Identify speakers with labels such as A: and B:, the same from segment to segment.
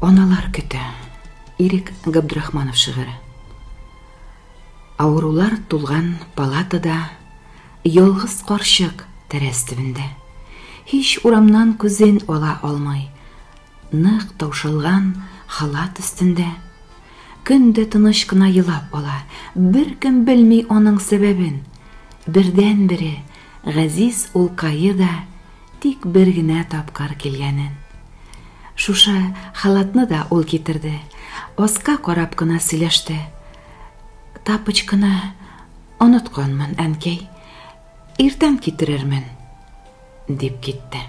A: Аналар көтә. Ирек Габдрахманов шигыре. Авырулар тулган палатада ялгыз карчык тәрәз төбендә. Һич урамнан күзен ала алмый. Нык таушалган халат өстендә. Көн дә тыныч кына елап ала. Беркем белми аның сәбәбен. Бердән-бере Газиз улкае да тик бер генә тапкыр килгәнен. Шушы халатны да ул китерде. Аска карап кына сөйләште. Тапочканы онытканмын, әнкәй. Иртән китерермен, дип китте.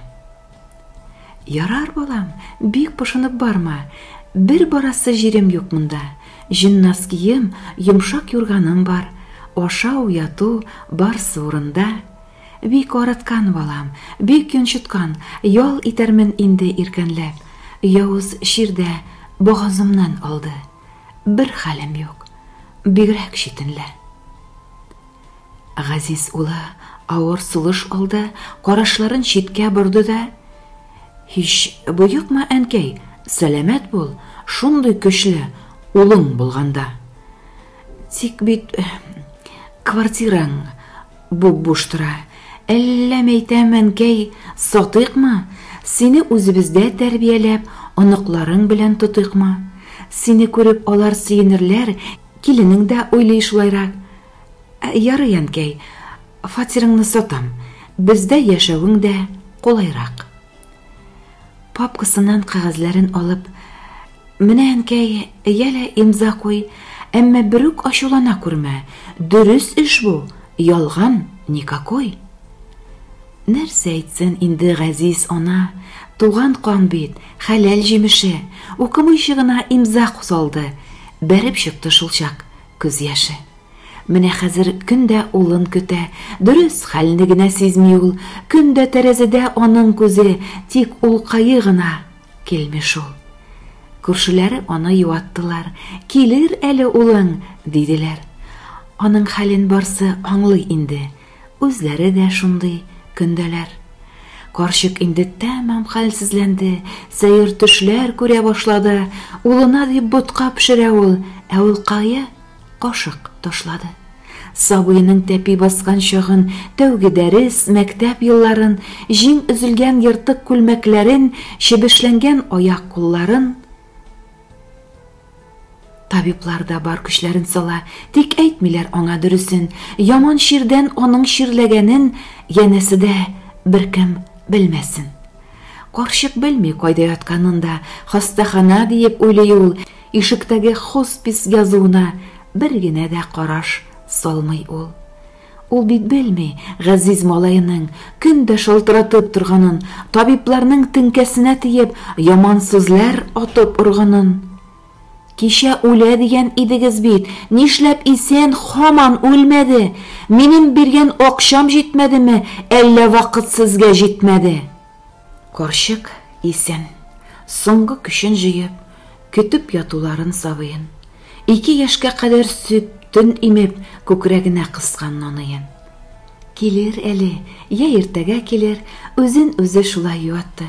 A: Ярар, балам, бик пошынып барма. Бер барасы җирем юк монда. Җеннас кием, йомшак юрганым бар. Ашау, яту, барсы урында. Бик арыткан, балам, бик йончыткан, ял итәрмен инде иркәнләп. Явыз чир дә богазымнан алды. Бер хәлем юк. Бигрәк читенле. Газиз улы авыр сулыш алды, карашларын читкә борды да, Һич боекма, әнкәй, сәламәт бул, шундый көчле улың булганда. Тик бит квартираң буп-буш тора. Әллә мәйтәм, әнкәй, сатыйкмы? Сине үзебездә тәрбияләп, оныкларың белән тотыйкмы? Сине күреп алар сөенерләр, Киленең дә уйлый шулайрак. Ярый, әнкәй, фатирыңны сатам, бездә яшәвең дә кулайрак. Папкасыннан кәгазьләрен алып, Менә, әнкәй, йә лә имза куй, әмма берүк ачулана күрмә, дөрес эш бу, ялган никакой. Нәрсә әйтсен инде газиз ана, туган кан бит, хәләл җимеше, укымыйчы гына имза салды, бәреп чыкты шулчак күз яше. Менә хәзер көн дә улын көтә, дөрес, хәлне генә сизми ул, көн дә тәрәзәдә аның күзе, тик улкае гына килми шул. Күршеләре аны юаттылар, килер әле улың, диделәр. Аның хәлен барсы аңлый инде, Үзләре дә шундый көндәләр. Карчык инде тәмам хәлсезләнде, сәер төшләр күрә башлады. Улына дип ботка пешерә ул, ә ул кая? Кашык ташлады. Сабыеның тәпи баскан чагын, тәүге дәрес, мәктәп елларын, җиң өзелгән ертык күлмәкләрен, чебешләнгән аяк-кулларын, Табиблар да бар көчләрен сала, тик әйтмиләр аңа дөресен. Яман чирдән аның чирләгәнен янәсе дә беркем белмәсен. Карчык белми кайда ятканын да, хастахана диеп уйлый ул, ишектәге хоспис язуына бер генә дә караш салмый ул. Ул бит белми, газиз малаеның көн дә шалтыратып торганын, табибларның теңкәсенә тиеп, яман сүзләр атып органын. Кичә үлә дигән идегез бит, нишләп исән хаман үлмәде? Минем биргән акчам җитмәдеме, әллә вакыт сезгә җитмәде? Карчык исән, соңгы көчен җыеп, көтеп ятуларын сабыен, ике яшькә кадәр сөт, төн имеп, күкрәгенә кыскан наныен. Килер әле, йә иртәгә килер, үзен үзе шулай юатты.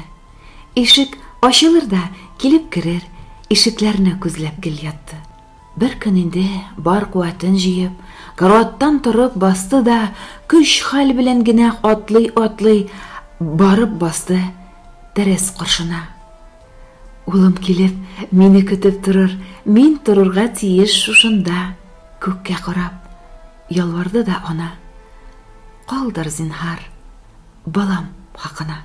A: Ишек ачылыр да, килеп керер, ишекләрне күзләп гел ятты. Бер көн инде бар куәтен җыеп, караваттан торып басты да, көч-хәл белән генә атлый-атлый барып басты тәрәз каршына. Улым килеп, мине көтеп торыр, мин торырга тиеш шушында, күккә карап, ялварды да ана. Калдыр, зинһар, балам хакына.